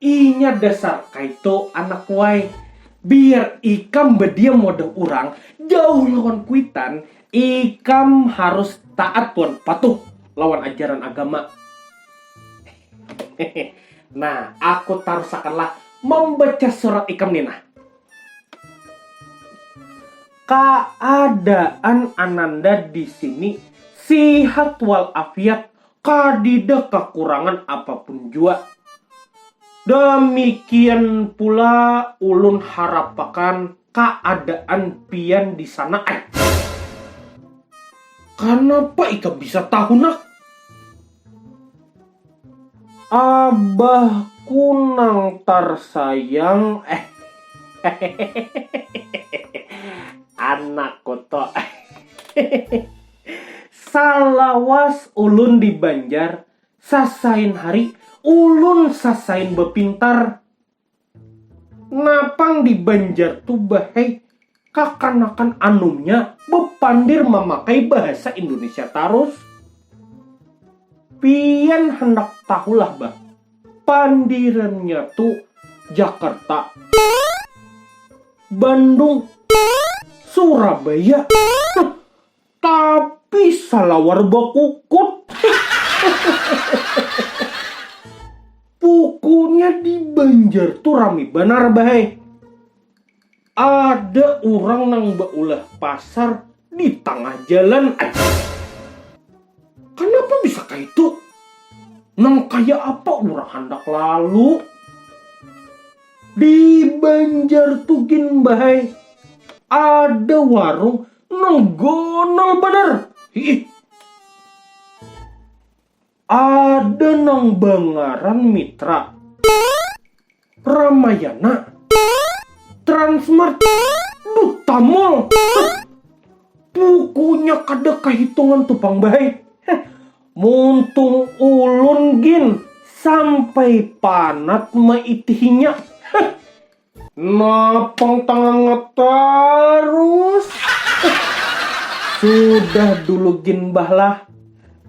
Inya dasar kaitu anak wai. Biar ikam badiam wadah urang, jauh lawan kuitan, ikam harus taat wan patuh lawan ajaran agama. Nah, aku tarusakanlah mambaca surat ikam ni nah. Kaadaan ananda di sini sihat wal afiat kadida kakurangan apapun jua. Damikian pula ulun harapakan kaadaan pian di sana ai. Kanapa ikam bisa tahu nak? Abahku nang tarsayang hehehe anakku tu hehehe. Salawas ulun di Banjar, sasain hari ulun sasain bapintar. Napang di Banjar tu bahai kakanakan anumnya bapandir mamakai bahasa Indonesia tarus. Pian handak tahu lah bah, pandirannya tu Jakarta, Bandung, Surabaya. Tapi salawar bakukut. Pukuknya di Banjar tu rami banar bahai. Ada urang nang baulah pasar di tangah jalan ai. Kanapa bisa kaitu? Nang kaya apa urang handak lalu? Di Banjar tu gin bahai ada warung Nol gonol banar. Hiih. Ada nang bangaran Mitra. Ramayana. Transmart. Duta Mall. Pukunya kada kahitungan tu pang bahai. Muntung ulun gin sampai panat maitihinya. Napang tangangat tarus. Sudah dulu gin bah lah.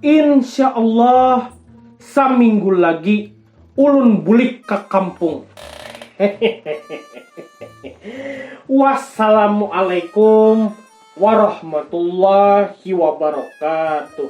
Insya Allah saminggu lagi ulun bulik ka kampung. Wassalamualaikum warahmatullahi wabarakatuh.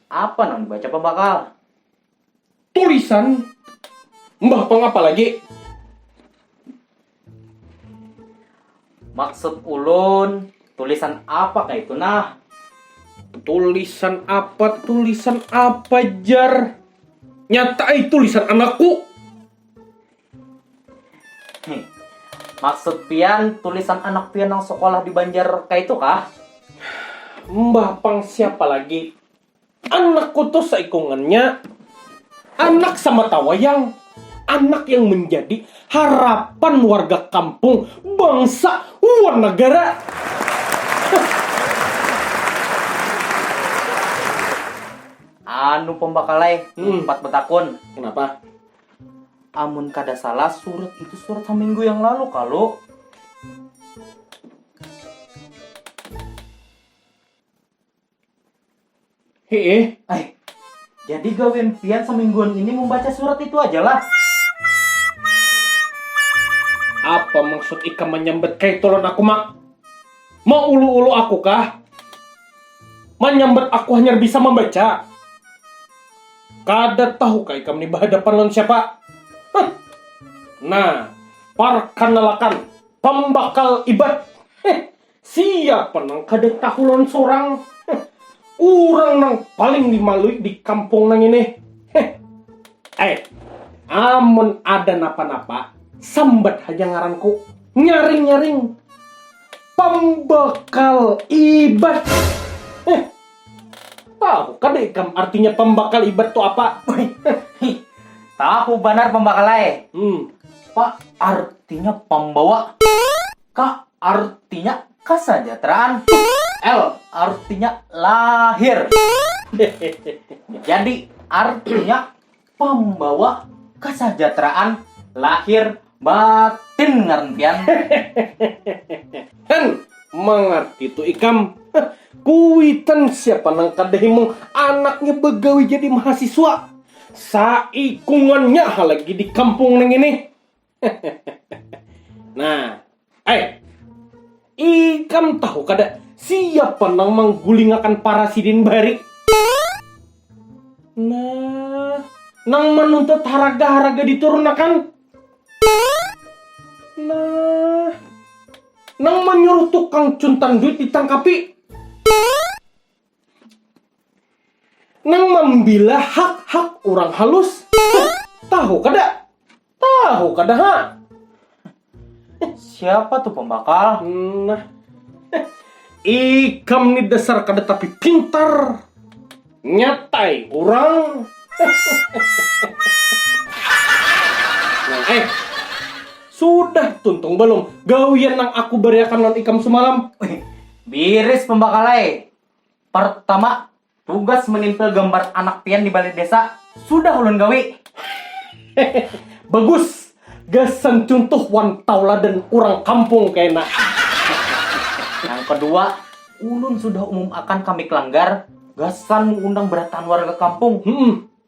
Apa nang dibaca pambakal? Tulisan Mbah Pang apa lagi? Maksud ulun, tulisan apa kah itu nah? Tulisan apa, tulisan apa jar? Nyata eh tulisan anakku. Hmm. Maksud pian tulisan anak pian yang sekolah di Banjar kayak itu kah? Mbah pang siapa lagi? Anakku tuh seikungannya anak sama tawayang. Anak yang menjadi harapan warga kampung, bangsa, wan negara. Anu pembakalai, hmm. empat betakun. Kenapa? Amun kada salah surat itu surat haminggu yang lalu kalu. Hee, ay. Jadi gawian pian semingguan ini membaca surat itu aja lah. Apa maksud ikam menyambat kaitulun aku mak? Mau ulu-ulu aku kah? Manyambat aku hanyar bisa mambaca. Kada tahu kah ikam ni bahadapan lawan siapa? Huh. Nah, parkanalakan, pambakal Iban. Heh, siapa nang kada tahu lawan surang? Huh. Urang nang paling dimalui di kampung nang ini. Heh. Eh, amun ada napa-napa, sambat haja ngaranku. Nyaring-nyaring. Pambakal ibat. Eh, tahu kada ikam artinya pambakal ibat tu apa? Tahu banar pambakal ai. Hmm. Pa artinya pambawa. Ka artinya kasajateraan. L artinya lahir. Jadi artinya pambawa kasajateraan lahir batin ngaran pian. Hen, mangarti tu ikam. Kuitan siapa nang kada himung anaknya bagawi jadi mahasiswa. Saikungannya ha lagi di kampung nang ini. nah, eh, ikam tahu kada siapa nang manggulingakan para sidin bari? Nah, nang menuntut haraga-haraga diturunakan? Nah, nang menyuruh tukang cuntan duit ditangkapi? Nang mambila hak-hak urang halus, tahu kada? Tahu kada ha? Siapa tu pambakal? Nah, ikam ni dasar kada tapi pintar, nyatai urang. Nah, eh, sudah tuntung balum gawian nang aku bariakan lawan ikam sumalam? Biris pambakal ai. Partama, tugas menimpil gambar anak pian di balai desa sudah ulun gawi. Bagus, gasan cuntuh wan tauladan urang kampung kena. Nang kedua, ulun sudah umum akan ka Mik Langgar gasan meundang berataan warga kampung.